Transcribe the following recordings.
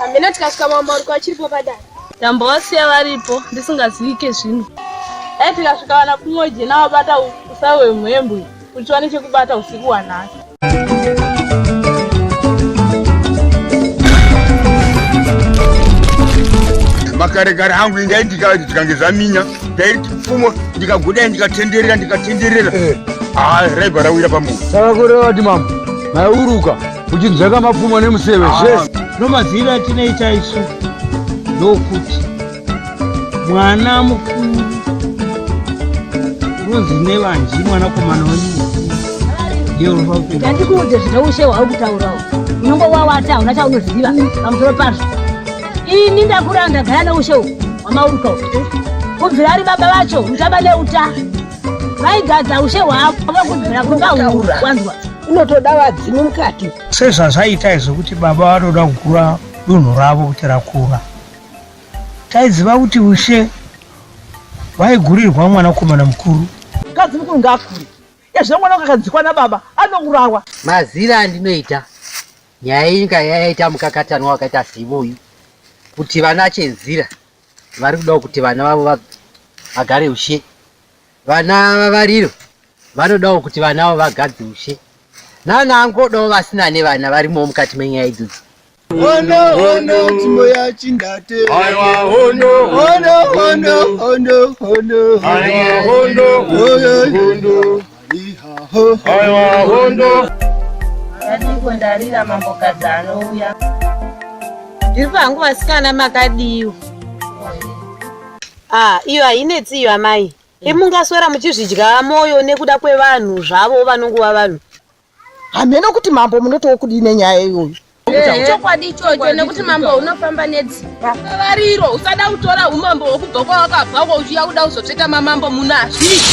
hamena tikasvika mambo ariko achiripo padare ndambovasiya varipo ndisingazivike zvino dai tikasvika vana kumwe jena wabata usai wemhembwe kuti wane chekubata usiku wanhasi makarekare hangu ingaindikavati tikange zvaminya ndaiti pfumo ndikaguda ndikatenderera ndikatenderera eh. ah, raibva rawira pamunhu saka kureva kuti mambo maiuruka uchinzveka mapfumo nemuseve ah. zvese nomazivi atinoita isu ndokuti mwana mukuru unonzi nevanji mwanakomana wenyu ndikuudze zvine ushe hwauri kutaurawo unongo wawata hauna chaunoziva pamusoro pazvo ini ndakura ndagara neushe uhu hwamauruka uhu kubvira ari baba vacho uchaba neuta vaigadza ushe hwavo vakubvira kumba huru wanzwa unotoda vadzimu mukati sezvazvaita izvo kuti baba vanoda kukura dunhu ravo kuti rakura taiziva kuti ushe vaigurirwa mwanakomana mukuru mukadzi mukuru ngaakure ezve mwana wakakadzikwa nababa anourawa mazira andinoita Nyaya iyi inga yaita mukakatanwa wakaita seivo uyu kuti vana chenzira vari kudawo kuti vana vavo vagare ushe vana vavariro vanodawo kuti vana vavo vagadze ushe nana angodawo vasina nevana varimowo mukati menyaya idzodzo hondo hondo tsimo yachindate aiwa hondo hondo hondo hondo hondo aiwa hondo hondo hondo Aiwa hondo. Ndadiko ndarira mambokadzi anouya. Ndiri pangu vasikana makadiwa. Ah, iyo hainetsi iyo amai. Imungaswera muchizvidya moyo nekuda kwevanhu zvavo vanongova vanhu. hameno kuti mambo munotiwo kudii nenyaya iyoyo chokwadi ichocho nekuti mambo unofamba nedzimba variro usada kutora umambo hwekubva kwawakabva ko uchiya kuda kuzotsveta mamambo muno hazviiti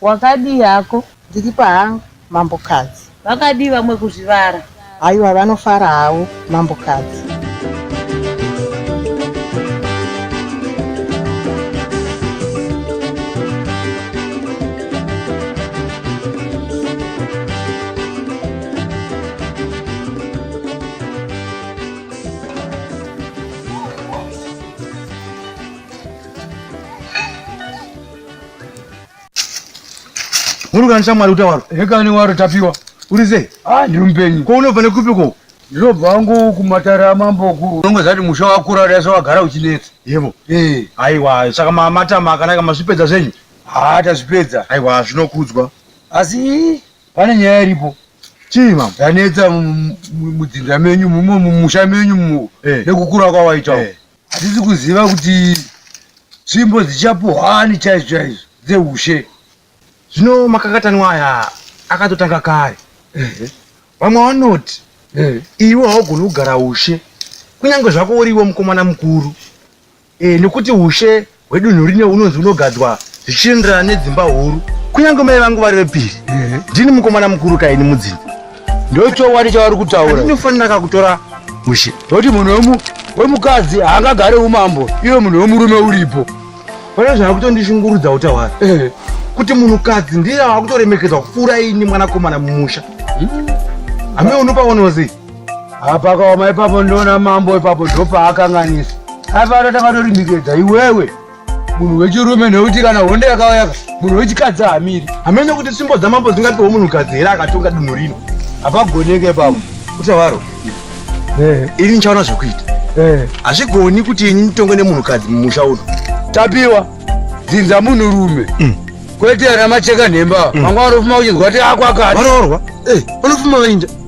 Wakadii hako? Ndiri pahangu mambokadzi. Vakadii vamwe kuzvivara? Haiwa vanofara havo mambokadzi. Muri kana shamwari uta waro. Hekani waro tapiwa. Uri sei? Ah, ndiri mupenyu. Ko unobva nekupi ko? Ndinobva wangu kumatara amambo ku. Unongo zati musha wakura uri yasa wagara uchinetsa. Yebo. Eh. Aiwa, saka mamatama akanaka masvipedza zvenyu. Ah, tazvipedza. Aiwa, zvinokudzwa. Asi pane nyaya iripo. Chii mama? Yanetsa mudzinza menyu mumo mumusha menyu mu. Eh. Nekukura kwawaita. Eh. hatisi kuziva kuti tsvimbo dzichapuhwani chaizvo chaizvo dzeushe zvino makakatanwa aya akatotanga kare vamwe vanoti iwe haugoni kugara ushe kunyange zvako uriwo mukomana mukuru eh, nekuti ushe wedunhu rino unonzi unogadzwa zvichienderana nedzimba huru kunyange mai vangu vari vepiri ndini mukomana mukuru kaini mudzimba ndochokwadi chavari kutaura ndinofanira kakutora mushe nekuti munhu wemukadzi haangagare umambo iwe munhu wemurume uripo pane zvava kutondishungurudza utawari eh. kuti munhukadzi ndiye ava kutoremekedzwa kupfuura ini mwanakomana mumusha hame hmm? unopaonozei apakaoma ipapo ndoona mambo ipapo ndopaakanganisa aifana takatorimikidza iwewe munhu wechirume nekuti kana honde yakauyaka munhu wechikadzi hamiri hamene kuti simbo dzamambo dzingapiwe munhukadzi here akatonga dunhu rino hapagoneke ipapo utavaro eh. ini ndichaona zvekuita eh. hazvigoni kuti ini nditonge nemunhukadzi mumusha uno tapiwa dzinza munhu rume mm. kwete ana macheka nhemba mm. vanga vanofuma uchinzwa kuti akwakati vanoorwa eh, vanofuma vainja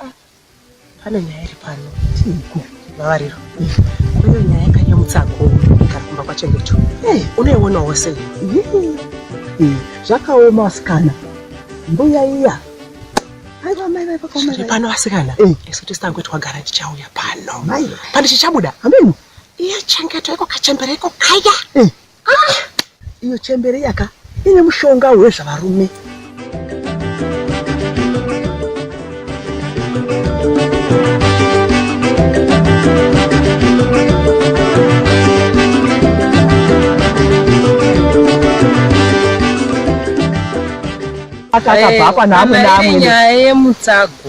Ah, pane nyaya iri pano vavariro kune nyaya yakanyamutsa akuru igara kumba kwachengecho eh, unoionawo sei eh, zvakaoma asikana mbuya iya zviri pano asikana eh. isu tisango twagara tichauya pano pane chichabuda ameno iye chengeto iko kachembera iko kaya Ah! Iyo chembere yaka ine mushonga wezvavarume. akabva apa naamwe naamwe nyaya yemutsago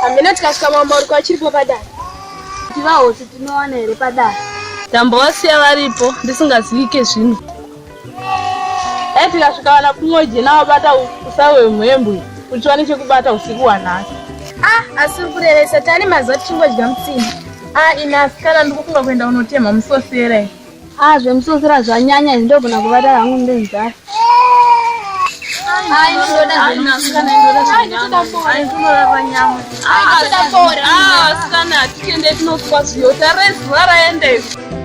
hamena tikasvika mambo uri kwachiripo padare tivahosi tinowana here padare ndambovasiya varipo ndisingazivike zvino Dai tikasvika vana kumweje navabata usa hwemhembwe kuti wane chekubata usiku wanhasi. Ah, asi uri kurevesa tani mazuva tichingodya mutsini. Ah, inasi kana ndikufunga kuenda unotemha musosera iyi. Ah, zvemusosera zvanyanya izvi ndogona kubata hangu ndenzara. Asikana, tiende tinokupa zviyo, tare zuva raenda izvi.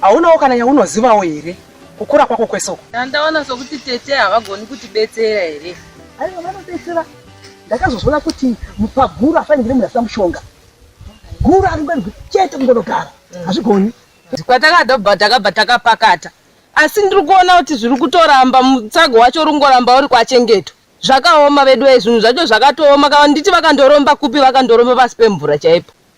haunawo kana yaunozivawo here kukura kwako kwese uko ndaona sokuti tete havagoni kutibetsera here aiwa vanobetsera ndakazozvona kuti mupaguru afaningire munhu asina mushonga guru ari ngwani chete kungonogara mm. hazvigoni kwatakadobva takabva takapakata asi ndiri kuona kuti zviri kutoramba mutsago wacho uri kungoramba uri kwachengeto zvakaoma vedu vaye zvinhu zvacho zvakatooma kava nditi vakandoromba kupi vakandoromba pasi pemvura chaipo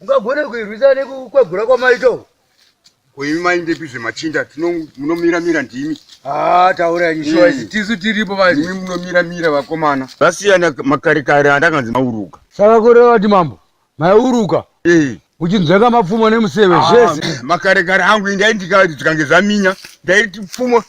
ungagona kuirwisa nekukwegura kwamaito koimi maindepi zvemachinda munomira mira ndimi ah, taura nyishoa hmm. tisu tiripo vaimi munomira mira vakomana vasiyana makare kare andakanzi mauruka saka kurevati mambo maiuruka eh. uchinzveka mapfumo nemuseve ah, zvese makare kare angu indaindikati zvikange zvaminya ndaiti pfumo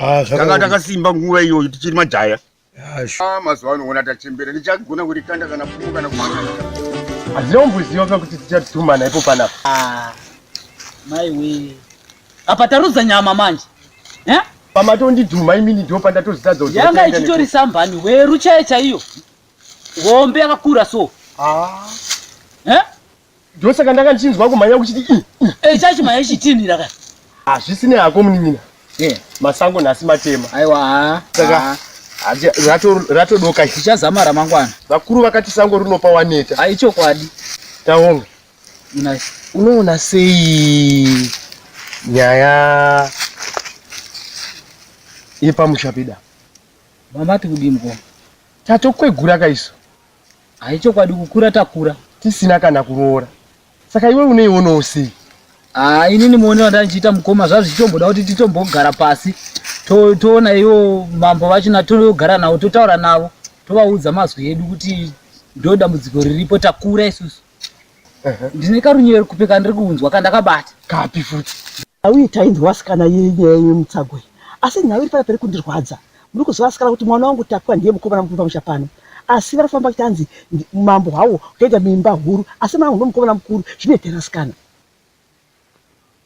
Ah, zvaka- tanga takasimba nguva iyoyo tichiri majaya Ah, sh- Ah, mazuva ano ona tachembera ndichagona kurikanda kana pfumo kana kumanga hazvina kumboziva ka kuti tichatumana ipo panapa Ah, mai wee apa tarudza nyama manje Eh? pamatondidhuma imini ndiwo pandatozitadza kuti yanga ndataenda ichitori sambani weru chaye chaiyo hombe yakakura so neku- Ah, Eh? ndosaka ndanga ndichinzwa kumhanya kuchiti i i Eh, chachimhanya chitinhira ka. hazvisi nehako munin'ina Yeah. masango nhasi matema Aiwa. ah, Saka- ah. Hazi- rato- ratodoka iri. Tichazama ramangwana. vakuru vakati sango rinopa waneta Ai chokwadi. taona Unai. unoona sei nyaya yepamusha peda Mama tikudii mukoma? tatokwegura kaiso Hai chokwadi kukura takura. Tisina kana kuroora. Saka iwe uneionawo sei? Ah, inini muone wandandichiita mukoma zvazvo chitomboda kuti titombogara pasi toona to iwo mambo vacho natogara navo totaura navo tovaudza mazwi edu kuti ndo dambudziko riripo takura isusu ndine karunyere kupe kandiri kunzwa kandakabata kapi futi nhau iyi tainzwa vasikana yenyaya yemutsago iyi asi nhau iri panapa iri kundirwadza muri kuziva vasikana kuti mwana wangu tapwa ndiye mukomana mukuru pamusha pano asi vari kufamba vachinzi mambo hwawo kukaita mimba huru asi mwana wangu ndomukomana mukuru zvinoitera sikana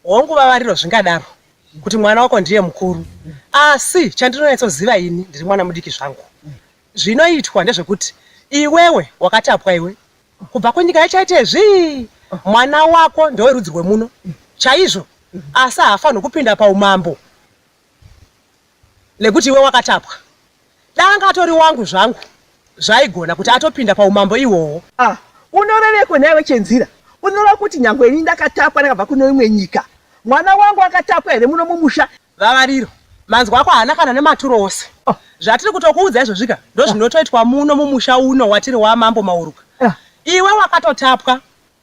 Hongu vavariro zvingadaro kuti mwana wako ndiye mukuru asi chandinonyatsoziva ini ndiri mwana mudiki zvangu zvinoitwa ndezvekuti iwewe wakatapwa iwe kubva kunyika yachaite zvii mwana wako ndewerudzi rwemuno chaizvo asi haafanirwi kupinda paumambo nekuti iwe wakatapwa danga atori wangu zvangu zvaigona kuti atopinda paumambo iwowo ah, unoreveko nhaiwe chenzira unoreva kuti nyange ini ndakatapwa ndakabva kune imwe nyika mwana wangu akatapwa here muno mumusha vavariro manzwa ako haana kana nematuro ose ah. zvatiri kutokuudza izvozvika ndozvinotoitwa muno mumusha uno watiri wamambo mauruka ah. iwe wakatotapwa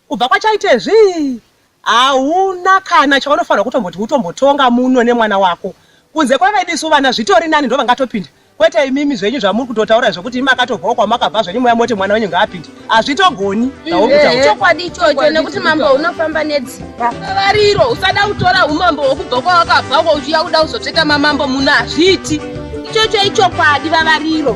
Kubva kwachaite zvii hauna kana chaunofanirwa kutomboti utombotonga muno nemwana wako kunze kwevedu isu vana zvitori nani ndovangatopinda kwete imimi zvenyu zvamuri kutotaura zvekuti imi akatobvawo kwamakabva zvenyu muya moti mwana wenyu ngaapinde hazvitogoni zvaurikutauchokwadi ichocho nekuti mambo unofamba nedzimba vavariro usada kutora umambo hwekubva kwawakabva ko uchiya kuda kuzotsveta mamambo muno hazviiti ichocho ichokwadi vavariro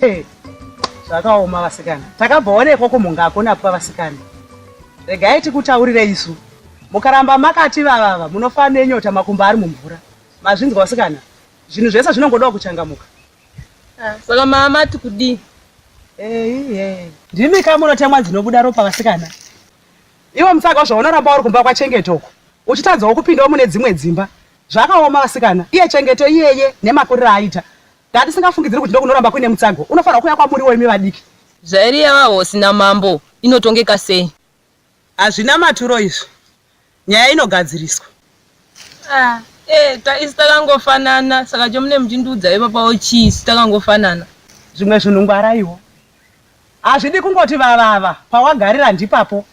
Hey, zvakaoma vasikana. Takabvaonekwa kumunga akonapwa vasikana. Regai tikutaurire isu. Mukaramba makati vavava munofa nenyota makumba ari mumvura. Mazvinzwa vasikana. Zvinhu zvese zvinongoda kuchangamuka. Ah, saka mama tikudii? Hey, hey. Ndimi kama unotemwa dzinobuda ropa vasikana. Iwe musaka zvaunoramba uri kumba kwachengeto uko. Uchitadzawo kupindawo mune dzimwe dzimba. Zvakaoma vasikana. Iye chengeto iyeye nemakurira aita. Ndatisingafungidziri kuti ndokunoramba kuine mutsago unofanirwa kuuya kwamuriwo imi vadiki. Zvairi yavahosi namambo inotongeka sei? Hazvina maturo izvi. Nyaya inogadziriswa. Ah, eh, taisi takangofanana saka chomune muchindiudza ipapawo chii si takangofanana. Zvimwe zvinhu ngwaraiwo. Hazvidi kungoti vavava pawagarira ndipapo.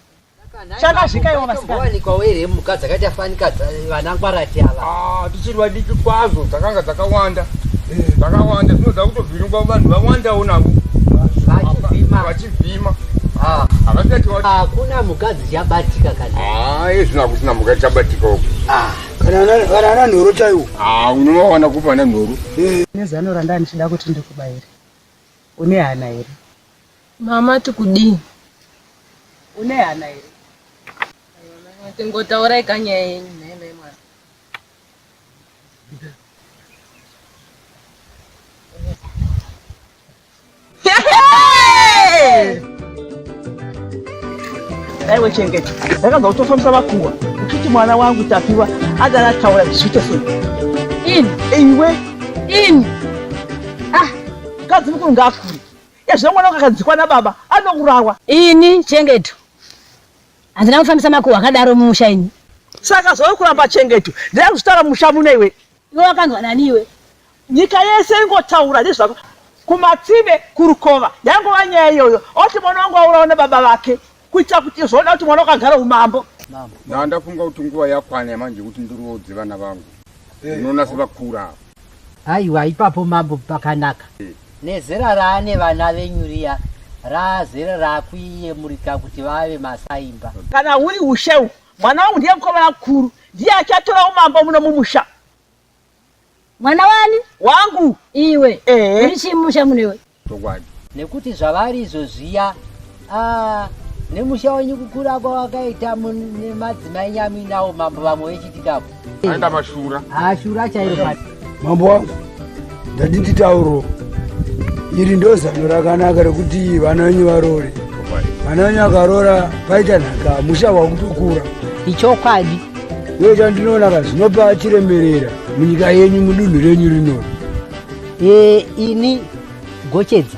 chakazvika iwo vasikanawanikwa were mhuka dzakaita afanika vana ngwarati ava ah, tichiri vadiki kwazvo dzakanga dzakawanda eh, dzakawanda dzinoda kutovhiringwa vanhu vawandawo navo vachivhima ah. hakuna ah, mhuka dzichabatika kanaizvino hakusina mhuka dzichabatika uku kana ana nhoro chaiwo unovawana kupa ana nhoro eh. nezano randanichida kuti ndikubayire une hana here Mama tikudii? Une hana here? Tingotaurai ka nyaya yenyu mheme mwana. Daiwe chengeta, ndakanzwa kuti wafambisa makuhwa uchiti mwana wangu Tapiwa adana taura zviite sei? Ini iwe ini ah, mukadzi mukuru ngaakure Ezvo mwana akadzikwa nababa anourawa. Ini Chengeto handina kufambisa makuhwa akadaro mumusha ini. Saka zvauri kuramba Chengeto ndaya kuzvitaura mumusha muno iwe. Iwe wakanzwa nani iwe? Nyika yese ingotaura nezvako kumatsive kurukova yangova nyaya iyoyo oti mwana wangu aurawa nababa vake. kuitira kuti zvoda kuti mwana wakagara umambo na ndafunga kuti nguva yakwana yamanje kuti ndiroodze vana vangu eh. unoona sevakura aiwa ipapo mambo pakanaka eh. nezera raane vana venyu riya raazere rakuiyemurika kuti vave masaimba kana uri usheu mwana wangu ndiye mukoma vakuru ndiye achatora umambo muno mumusha mwana wani wangu iwe uri chimusha munewe chokwadi nekuti zvavari izvo zviya ah, nemusha wenyu kukura kwawakaita nemadzimai nyamuinawo mambo vamwe vechitikapo aenda mashura ashura ah, chairo mambo wangu ndaditi tauro iri ndo zano rakanaka rekuti vana venyu varoore vana venyu akaroora paita nhaka musha wakutokura ichokwadi iyo chandinoona ka zvinopa chiremerera munyika yenyu mudunhu renyu rinori e, ini gochedza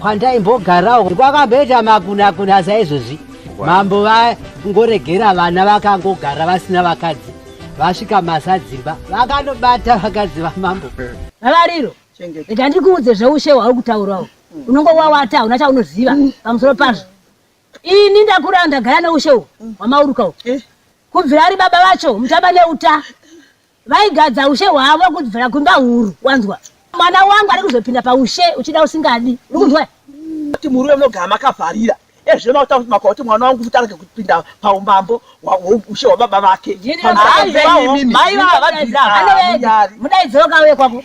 kwandaimbogarawo kwakamboita makunakuna saizvozvi mambo vangoregera vana vakangogara vasina vakadzi vasvika masadzimba vakanobata vakadzi vamambo vavariro rega ndikuudze zveushe hwauri kutaurawo unongo wawata hauna chaunoziva pamusoro pazvo ini ndakura ndagara neushe uhwu hwamauruka uhwu eh? kubvira ari baba vacho mutaba neuta Vaigadza ushe hwavo kubvira kumba huru, wanzwa? Mwana wangu ari kuzopinda paushe uchida usingadi, uri kunzwa? Kuti murume munogara makavharira ezve makuta kuti makauti mwana wangu futi arege kupinda paumambo ushe hwababa vake. Mai vavabvira. Mudaidziro kauye kwako.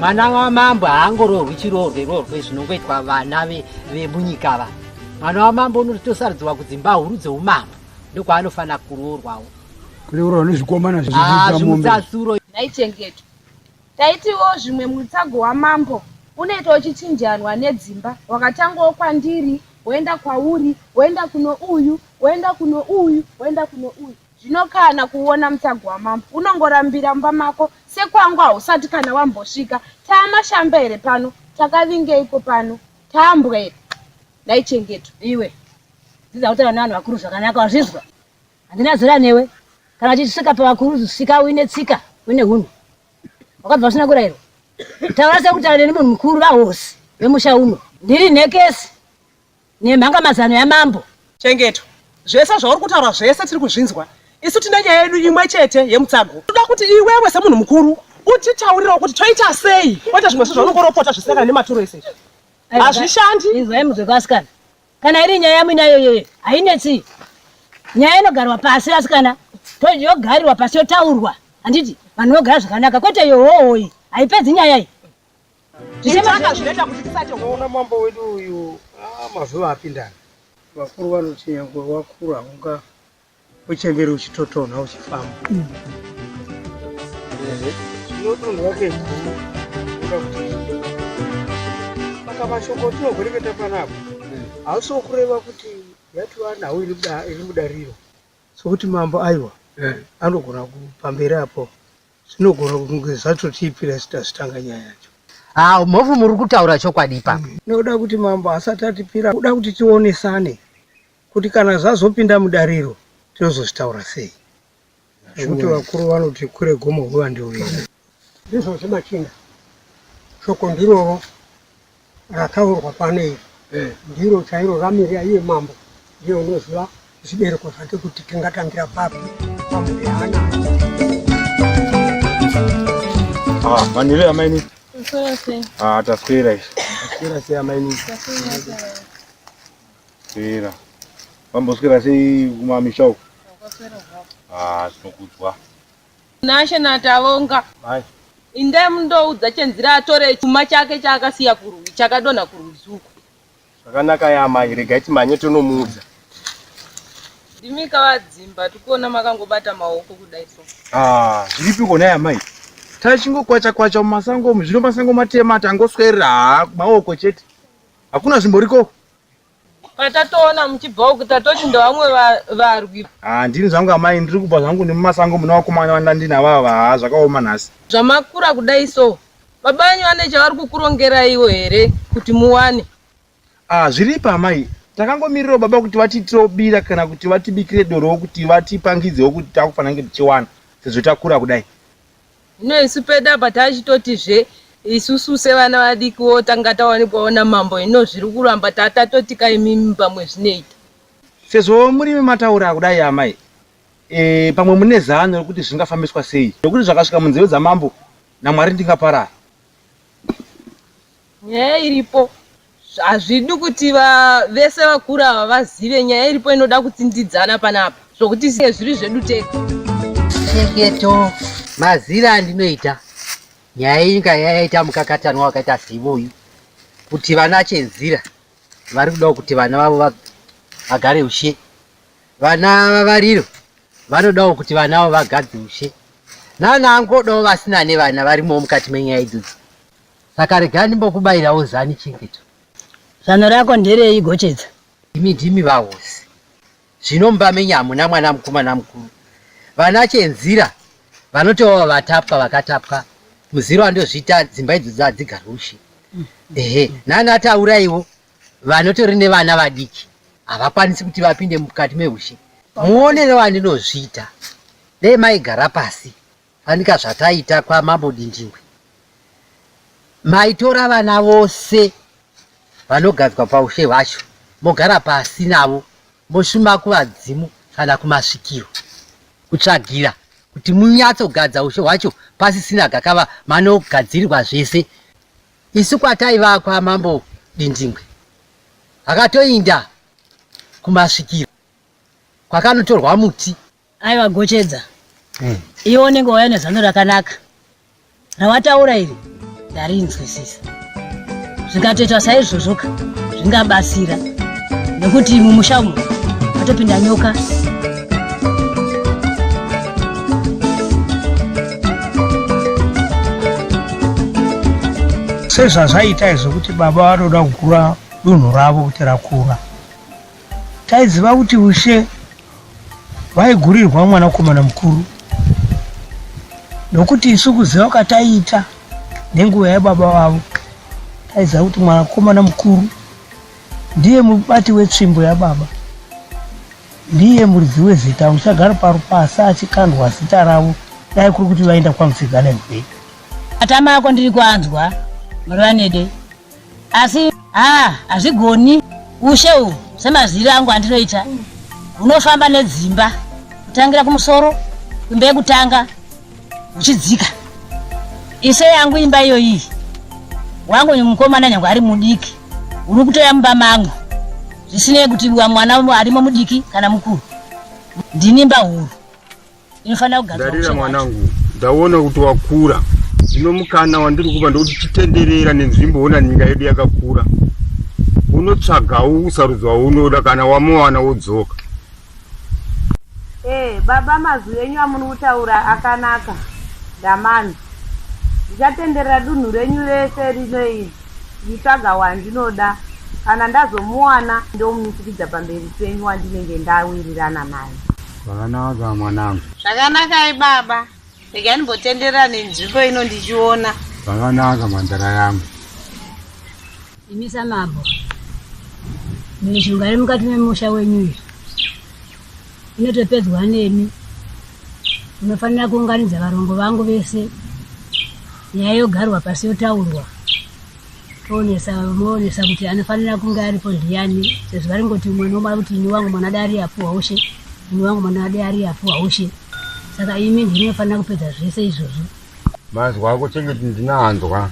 mwana wamambo haangororwi chiroorwe roorwe zvinongoitwa vana vemunyika ve va mwana wamambo unotosarudzirwa kudzimba huru dzeumambo ndokwaanofanira kuroorwawo kureurwa nezvikomana zvimutasuro naichengeto taitiwo zvimwe mutsago wamambo unoita uchichinjanwa nedzimba wakatangawo kwandiri woenda kwauri woenda kuno uyu woenda kuno uyu woenda kuno uyu Zvino kana kuona mutagu wamambo unongorambira mumba mako sekwangu hausati kana wambosvika. Taamashamba here pano? Takavingeiko pano? Taambwa here? Nhai Chengeto. Iwe, dzidza kutaura nevanhu vakuru zvakanaka wazvizwa? Handina zera newe. Kana uchisvika pavakuru svika uine tsika, uine hunhu. Wakabva usina kurairwa. Taura sekutaura neni munhu mukuru vahosi vemusha uno. Ndiri nhekesi. Nemhanga mazano yamambo. Chengeto, zvese zvauri kutaura zvese tiri kuzvinzwa. Isu tine nyaya yedu imwe chete yemutsago. Toda kuti iwewe semunhu mukuru utitaurirawo kuti toita sei kwete zvimwe zvo zvaunongoropota zvisinakana nematuro ese hazvishandi izwai muzvekwasikana kana iri nyaya yamwina yoyeye hainetsi nyaya inogarwa pasi vasikana yogarirwa pasi yotaurwa handiti vanhu vogara zvakanaka kwete yohohoyi haipedzi nyaya iyi Unoona mambo wedu uyu ah, mazuva apindana. Vakuru vanoti nyangwe wakura unga uchemberi uchitotonha uchifamba. Mm. Zvinotonhwa ke guru. Unoda kuti saka mashoko tinogwereketa panapa mm. hausi wokureva kuti yatova nhau iri mudariro sokuti mambo aiwa mm. anogona kupamberi apo Zvinogona kunge zvatotii piracy tasitanga nyaya yacho. Haa ah, mhofu muri kutaura chokwadi ipapo. Mm. Noda kuti mambo asati atipira kuda kuti tionesane kuti kana zvazopinda mudariro tinozozvitaura sei. Zvekuti vakuru vanoti kure gomo huva ndiwo. Ndizvo zvemachinda. Shoko ndiroro. rataurwa pano iri eh. ndiro chairo ramirira iye mambo ndiye unoziva zvibereko zvake kuti tingatangira papi pamudeana ah, vanhire amaini ah, taswera izvi taswera sei amaini swera vamboswera sei kumamisha uku ah, tinokudzwa Tinashe naTavonga indai mundoudza Chenzira atore chuma chake chaakasiya kurwi chakadonha kurwizi uko. Zvakanaka ya amai regai timhanye tonomuudza. Ndimi kavadzimba tikuona makangobata maoko kudai so. Ah, zviripi kona ya amai? Tachingokwacha kwacha mumasango umu zvino masango matema tangoswerera haa maoko chete. Hakuna zvimboriko. patatoona muchibva uku tatoti ndovamwe varwi haa ndini zvangu amai ndiri kubva zvangu nemumasango muna vakomana vandandinavava haa zvakaoma nhasi zvamakura kudai so baba venyu vane chavari kukurongeraiwo here kuti muwane haa zviripa amai takangomirirawo baba kuti vatiitirewo bira kana kuti vatibikire dorowo kuti vatipangidzewo kuti takufanira kunge tichiwana sezvo takura kudai Zvino isu pedu apa tachitotizve isusu sevana vadiki wo tanga tawanikwawo namambo hino zviri kuramba ta- tatotika imimi pamwe zvinoita sezvo murimi mataura kudai amai e, pamwe mune zano rekuti zvingafambiswa sei nekuti zvakasvika munzeve dzamambo namwari ndingaparara nyaya iripo hazvidi kuti vese vakura ava vazive nyaya iripo inoda kutsindidzana panapa zvokuti siye zviri zvedu tega cheketo mazira andinoita nyaya iyi inga yayaita mukakatanwa wakaita seivoyu kuti vana chenzira vari kudawo kuti vana vavo vagare ushe Vana vavariro vanodawo kuti vana avo vagadze ushe. Nana angodawo vasina nevana varimowo mukati menyaya idzodzi. Saka rega ndimbokubayirawo zani chengeto. Zano rako nderei Gochedza? Imi ndimi vahosi. Zvino mumba menyu hamuna mwana mukomana mukuru. Vana chenzira vanotova vatapwa vakatapwa muziro andozviita dzimba idzodzi hadzigarwe ushe. Ehe, nana tauraiwo vanotori nevana vadiki havakwanisi kuti vapinde mukati mehushe muonere wandinozviita dei maigara pasi fanika zvataita kwamambo dindingwe maitora vana vose vanogadzwa paushe hwacho mogara pasi navo moshuma kuvadzimu kana kumasvikiro kutsvagira kuti munyatsogadza ushe hwacho pasisina gakava manogadzirirwa zvese isu kwataiva kwamambo Dindingwe akatoinda kumasvikiro kwakanotorwa muti aiwa gochedza mm. iwe unenge wauya nezano rakanaka rawataura iri ndarinzwisisa zvikatoitwa saizvozvoka zvingabatsira nekuti mumusha umu atopinda nyoka sezvazvaita izvo kuti baba vatoda kukura dunhu ravo kuti rakura taiziva kuti ushe vaigurirwa mwanakomana mukuru nokuti isu kuziva kwataiita nenguva yababa vavo taiziva kuti mwanakomana mukuru Ndiye mubati wetsvimbo yababa. Ndiye muridzi wezita uchagara parupasa achikandwa zita ravo dai kuri kuti vaenda kwamupfiga nemvei. Matama ako ndiri kuanzwa Murivanede asi haa ah, hazvigoni ushe uhu semaziri angu andinoita hunofamba nedzimba kutangira kumusoro kumbe kutanga uchidzika ise yangu imba iyo iyi wangu mukomana nyange ari mudiki uri kutoya mumba mangu zvisinei kuti wa mwana arimo mudiki kana mukuru ndini mba huru inofanira kugadarira mwanangu ndaona kuti wakura zvino mukana wandiri kupa ndokuti chitenderera nenzvimbo ona nyika yedu yakakura unotsvagawo usarudzo waunoda kana wamuwana wodzoka Eh baba mazwi enyu amuri kutaura akanaka ndamanzwa. Ndichatenderera dunhu renyu rese rino iri ndichitsvaga wandinoda kana ndazomuwana ndomumitikidza pamberi penyu wandinenge ndawirirana naye. Zvakanaka mwanangu. Zvakanakai baba. Ndega ndimbotenderera nenzvimbo ino ndichiona. Zvakanaka mhandara yangu. Imi samambo, mishonga iri mukati memusha wenyu iyi inotopedzwa nemi. Unofanira kuunganidza varongo vangu vese, nyaya yogarwa pasi yotaurwa, toonesa moonesa kuti anofanira kunge aripo ndiyani sezvo varingoti umwe nomwe kuti ini wangu mwana dai ari apo haushe ini wangu mwana dai ari apo haushe saka imi ndinofanira kupedza zvese izvozvo mazwa ako chengeti ndinanzwa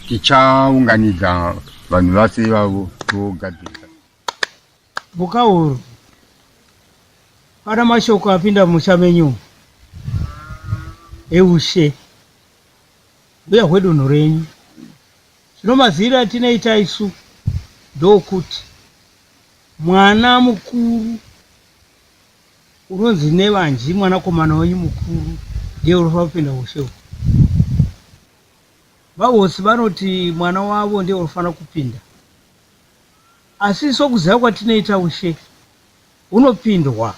tichaunganidza vanhu vase ivavo togadzirisa mukauru pana mashoko apinda mumusha menyu eushe Mbuya hwedunhu renyu zvino maziiro atinoita isu ndookuti mwana mukuru unonzi nevanji mwanakomana wenyu mukuru ndiye unofanira kupinda ushe uku vahosi vanoti mwana wavo ndiye unofanira kupinda asi sokuziva kwatinoita ushe unopindwa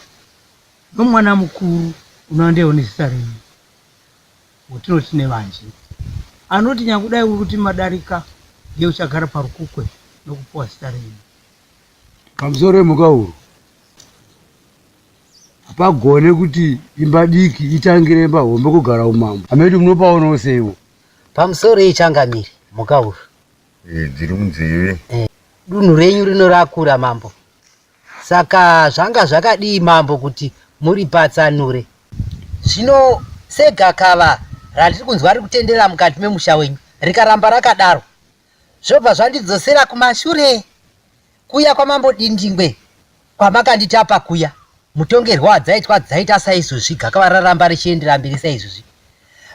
nomwana mukuru unandewo nezita renyu watinoti Nevanji, anoti nyangudai uri kuti madarika ndiye uchagara parukukwe nokupiwa zita renyu. Pamusoro pemhukahuru, hapagone kuti imba diki itangire imba hombe kugara umambo. Hameno munopaonawo seiwo. Pamusoro yechangamire, mhukahuru. Eh, dziri munzeve. Eh, dunhu renyu rino rakura, mambo. Saka zvanga zvakadii mambo kuti muripatsanure? Zvino segakava randiri kunzwa riri kutenderera mukati memusha wenyu rikaramba rakadaro zvobva zvandidzosera kumashure kuya kwamambo Dindingwe kwamakanditapa kuya. Mutongerwo wadzaitwa dzaita saizvozvi gakava raramba richiendera mberi saizvozvi.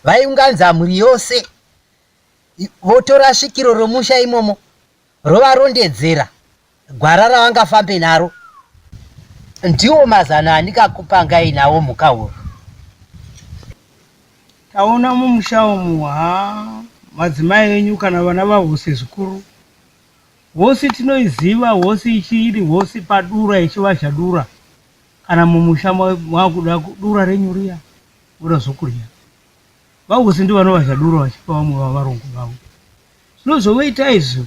Vaiunganza mhuri yose votora svikiro romusha imomo Rovarondedzera gwara ravangafambe naro. Ndiwo mazano andikakupangai nawo Mhukahuru. Taona mumusha umu haa madzimai enyu kana vana vahose zvikuru. Hosi tinoiziva hosi ichi iri hosi padura ichivazha dura. Kana mumusha ma- mwakuda ku- dura renyu riya voda zvokurya. Vahosi ndivanovazha dura vachipa vamwe vavarungu vavo. Zvino zvovoita izvo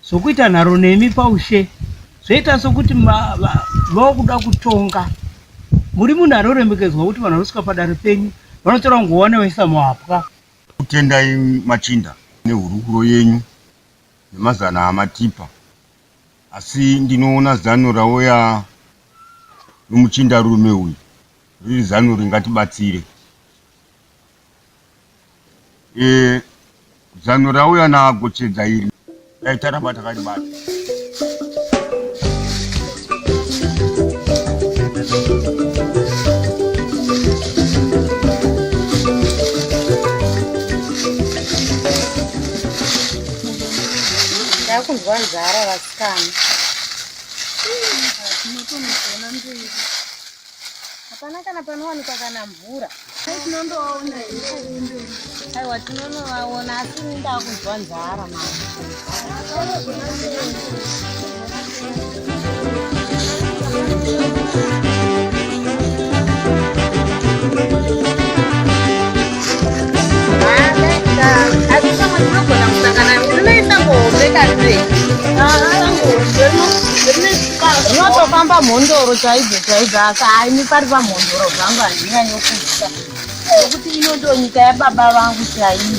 zvokuita nharo nemi paushe, zvoita sokuti mava kuda kutonga. Muri munhu anoremekedzwa kuti vanhu vanosvika padare penyu vanotora nguwani vaisa muhapwa. Tokutendai machinda nehurukuro yenyu nemazano amatipa. Asi ndinoona zano rauya nomuchindarume uyu riri zano ringatibatsire. Eh, zano rauya naagochedza iri dai taramba takaribata ndakunzwa nzara vasikana Tinotonogona mberi. hapana kana panowanikwa kana mvura tinondovaona aiwa tinonovaona asi indaa kunzwa nzara maa zvinotofamba mhondoro chaidzo chaidzo asi haimi pari pamhondoro zvangu handinyanyokuita nokuti ino ndonyika yababa vangu chaiyo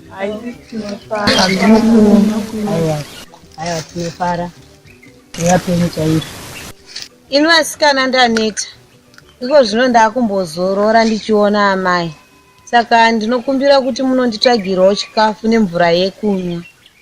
Aiwa tinofara yapenyu chairo. Ini vasikana ndaneta. Iko zvino ndakumbozorora ndichiona amai. Saka ndinokumbira kuti munonditsvagirawo chikafu nemvura yekunwa.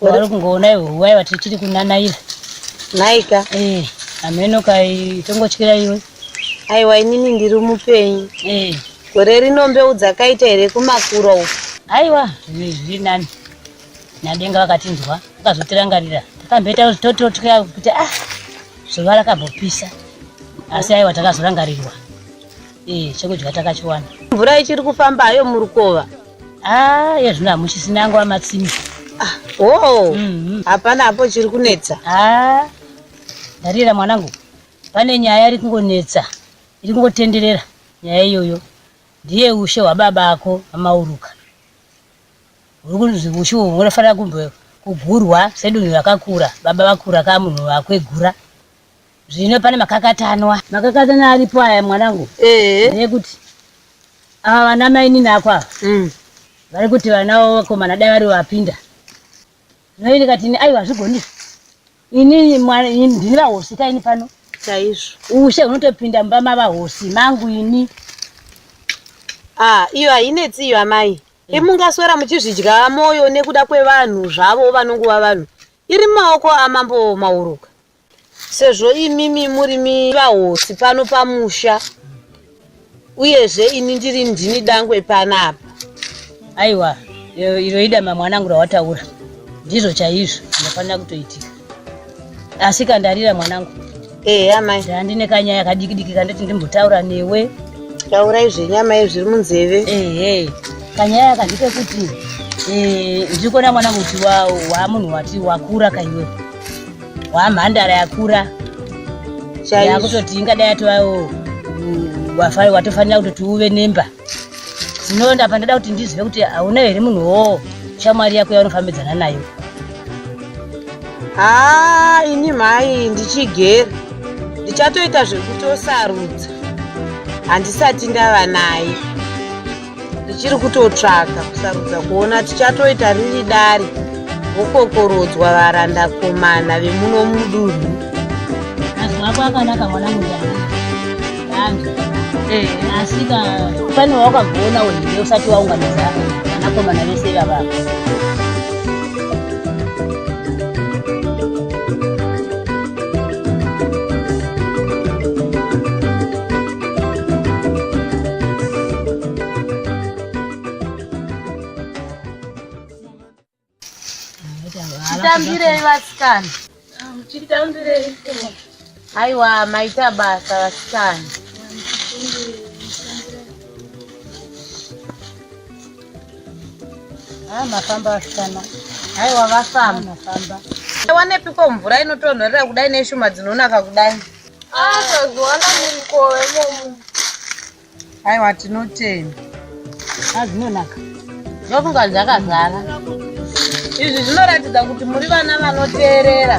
vari kungoona iwe huwai vati tiri kunanaira naika eh ameno kai tongotyira iwe aiwa inini ndiri mupenyu eh gore rino mbeu dzakaita here kumakura uku aiwa zvinhu izvi zviri nani nadenga vakatinzwa vakazotirangarira takamboita kuti tototya kuti ah zuva rakambopisa asi aiwa takazorangarirwa eh chekudya takachiwana mvura ichiri kufamba hayo murukova Ah, yezvino hamuchisina yangu amatsimi. Ah, oh. Mm-hmm. Hapana hapo chiri kunetsa. Ah. Ndarira mwanangu. Pane nyaya iri kungonetsa. Iri kungotenderera nyaya iyoyo. Ndiye ushe hwababa ako amauruka. Uri kunzi ushe uhwo unofanira kumbe kugurwa sedunhu rakakura. Baba vakura ka munhu wakwegura. Zvino pane makakatanwa. Makakatanwa aripo aya mwanangu. Eh. Nekuti ava vana mainini ako ava. Mm. Vari kuti vana wavo vakomana dai vari vapinda. Zvino ini kati ini aiwa zvigoni. Ini mwana ini ndini vahosi ka ini pano. Chaizvo. Ushe unotopinda mumba mava hosi mangu ini. Ah, iyo hainetsi iyo amai. Mm. Imungaswera muchizvidya moyo nekuda kwevanhu zvavo vanonguva vanhu. Iri mumaoko amambo Mauruka. sezvo imimi murimi vahosi pano pamusha uyezve ini ndiri ndini dangwe panapa aiwa eh, iro idama mwanangu rawataura ndizvo chaizvo ndinofanira kutoitika asi kandarira mwanangu ehe amai handine kanyaya kadikidiki kandoti ndimbotaura newe taurai zvenyama izvi zviri munzeve ehe kanyaya kandike kuti eh, ndiri kuona mwanangu kuti wa- waamunhu wati wakura kaiwe wamhandara yakura yakutoti ingadai yatovawo wafai watofanira kutoti uve nemba zvinonda pandada kuti ndizive kuti hauna here munhu wo shamwari yako yaunofambidzana nayo haa ini mhai ndichigera ndichatoita zvekutosarudza handisati ndava naye ndichiri kutotsvaka kusarudza kuona tichatoita riri dare vokokorodzwa varandakomana vemuno mudunhu mazwi ako akanaka mwana mudana ange eh. asika pane wawakagona wehire usati waunganidza vanakomana vese vavava Chitambirei vasikana. Chitambirei. Aiwa maita basa vasikana. Ah, mafamba vasikana. Aiwa vafamba. Mafamba. Wanepiko mvura inotonhorera kudai neshuma dzinonaka kudai. Akazowana mumukove momu. Aiwa tinotenda. Azvinonaka. Ndofunga dzakazara. Izvi zvinoratidza kuti muri vana vanoteerera.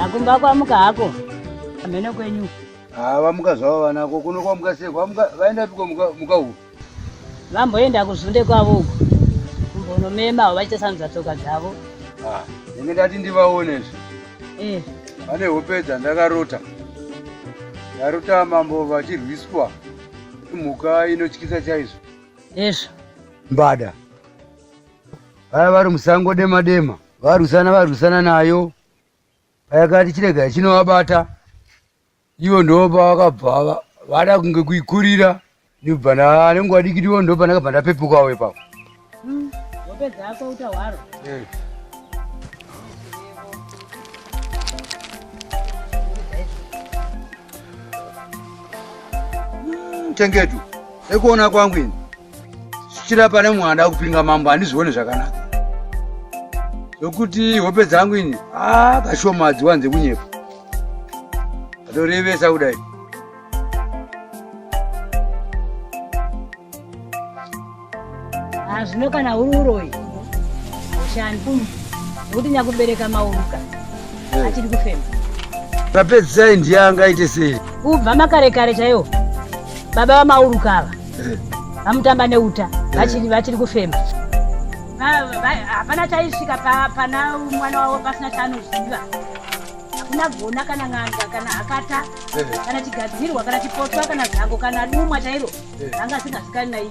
akumba kwamuka hako amene kwenyu haa vamuka zvavo vanako kuno kwamuka sei kwamuka vaenda piko muka uku vamboenda kuzunde kwavo uku kumbonomema vachiita sanudza tsoka dzavo ah, ndenge ndati ndivaone zve eh. vane hope dzandakarota ndarota mambo vachirwiswa mhuka inotyisa chaizvo ezvo mbada vaya vari musango dema dema varwisana varwisana nayo payakati chirega ichinovabata ivo ndo pavakabva vada kunge kuikurira ndibva ndanenge wadikiti ivo ndo pandakabva ndapepukawo ipapo hmm, eh. hmm, chengetu ekuona kwangu ini chira pane mwana akupinga mambo handizvione zvakanaka zvokuti hope dzangu ini a kashoma adziwanze kunyepa atorevesa kudai zvino kana huri uroyi ushani nokuti nyakubereka mauruka eh. achiri kufema papedzisai ndiye angaite sei kubva makare kare chaiwo baba vamauruka ava vamutamba neuta vachiri vachiri kufema hapana chaisvika pana mwana wavo pasina chaanoziva hakuna gona kana n'anga kana hakata kana chigadzirwa kana chipotwa kana zango kana dumwa chairo anga asingasikani naii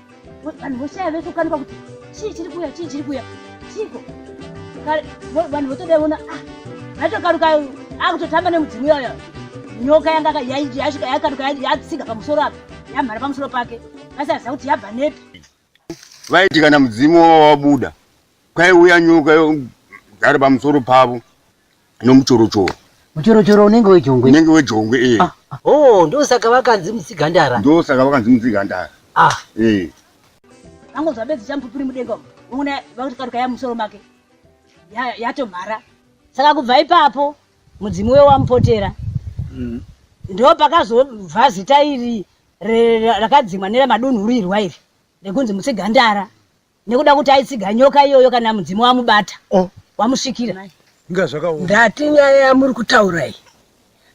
vanhu voshaya vese kukanika kuti chii chiri kuya chii chiri kuya chiiko vanhu votodaiona ah, aitokaruka akutotamba nemudzimu iyoyo nyoka yanga yasvika yakaruka yatsiga pamusoro apa yamhara pamusoro pake vasaziva kuti yabva nepi vaiti kana mudzimu wavo wabuda kwaiuya nyoka ari pamusoro pavo no muchorochoro muchorochoro unenge wejongwe unenge wejongwe eh ah, ah. oh ndosaka vakanzi mutsigandara ndosaka vakanzi mutsigandara ah eh ango zvabedzi champupuri mudenga uno vakuti karuka ya musoro make yatomhara ya saka kubva ipapo mudzimu we wamupotera mm. ndo pakazobva zita iri rakadzimwa neramadunhurirwa iri rekunzi mutsigandara nekuda kuti aitsiga nyoka iyoyo kana mudzimu wamubata oh. wamusvikira ndati nyaya yamuri kutaura iyi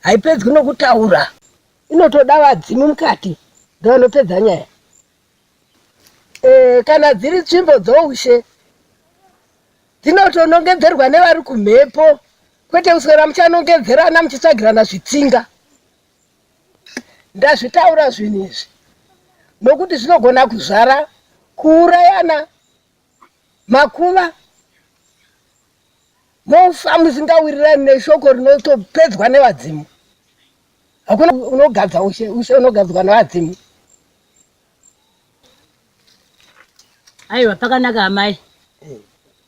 haipedzwi nokutaura inotoda vadzimu mukati ndoanopedza nyaya e, kana dziri tsvimbo dzoushe dzinotonongedzerwa nevari kumhepo kwete kuswera muchanongedzerana muchitsvagirana zvitsinga Ndazvitaura zvinhu izvi nokuti zvinogona kuzvara kuurayana, makuva, mofa musingawirirani neshoko rinotopedzwa nevadzimu. Hakuna unogadza ushe, ushe unogadzwa nevadzimu. Aiwa, pakanaka amai,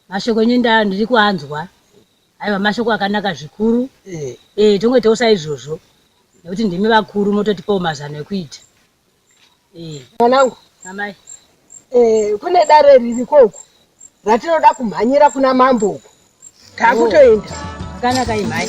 mashoko enyu ndaa ndiri kuanzwa. Aiwa mashoko akanaka zvikuru. Eh. Eh, tongoitawo saizvozvo. Nekuti ndimi vakuru mototipawo mazano ekuita. Eh. Mwanangu. Amai. Eh, kune dare ririko uku. Ratinoda kumhanyira kuna mambo uku. Takutoenda. Oh. Akanaka imhai.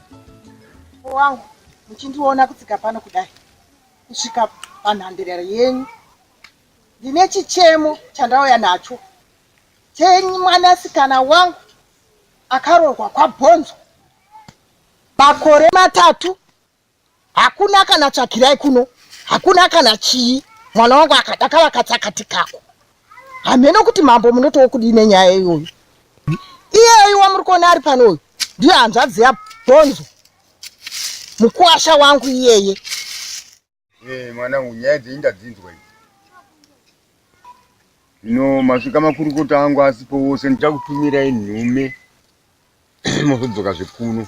wangu muchindiona kutsika pano kudai kusvika panhandirero yenyu ndine chichemo chandauya nacho chenyu mwanasikana wangu akaroorwa kwabhonzo makore matatu Hakuna kana tsvakirai kuno. Hakuna kana chii. Mwana wangu akadaka vakatsakati kako. Hameno kuti mambo munotowo kudii nenyaya iyoyo. Iyeyi wamuri kuona ari pano uyu ndiyo hanzvadzi yabhonzo. Mukuwasha wangu iyeye. Eh, mwanangu nyaya dzenyu ndadzinzwa idzi. Zvino masvika makurukota angu asipo wose ndichakutumirai nhume mozodzoka zvekuno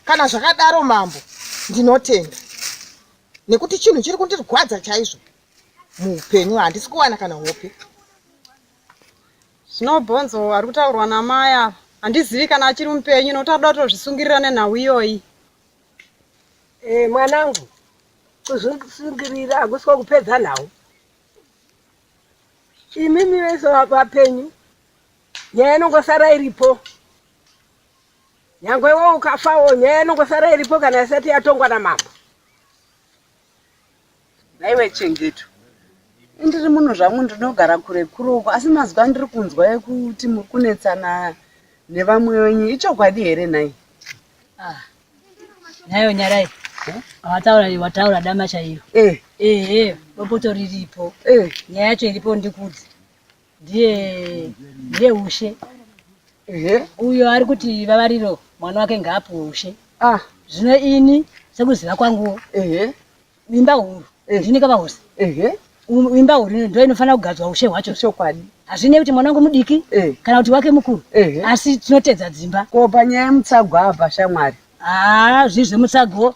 kana zvakadaro mambo ndinotenda nekuti chinhu chiri kundirwadza chaizvo muupenyu handisi kuwana kana hope zvinobhonzo ari kutaurwa namai ava handizivi kana achiri mupenyu nokuti adoda kutozvisungirira nenhau iyoyi e, mwanangu kuzvisungirira hakusi kwakupedza nhau imimi vese vapenyu nyaya inongosara iripo nyangwe iwe ukafawo nyaya inongosara iripo kana isati yatongwa namambo naiwe chengeto ndiri munhu zvangu ndinogara kure kure uko asi mazuva ndiri kunzwa ekuti muri kunetsana nevamwe wenyu ichokwadi here nhai ah, nhayo nyarai wataura eh? wataura dama chairo ehe eh, eh, bopoto riripo nyaya yacho iripo ndikudzi ndiye ndiye ushe ehe uyo ari kuti vavariro mwana wake ngaapuwe ushe ah zvino ini sekuziva kwanguwo ehe imba huru Eh. ndini kavahuse ehe Um, imba huru ino ndo inofanira kugadzwa ushe hwacho chokwadi hazvinei kuti mwana wangu mudiki Eh. kana kuti wake mukuru Ehe. asi tinotedza dzimba ko panyaya yemutsagwa apa shamwari haa zvii zvemutsago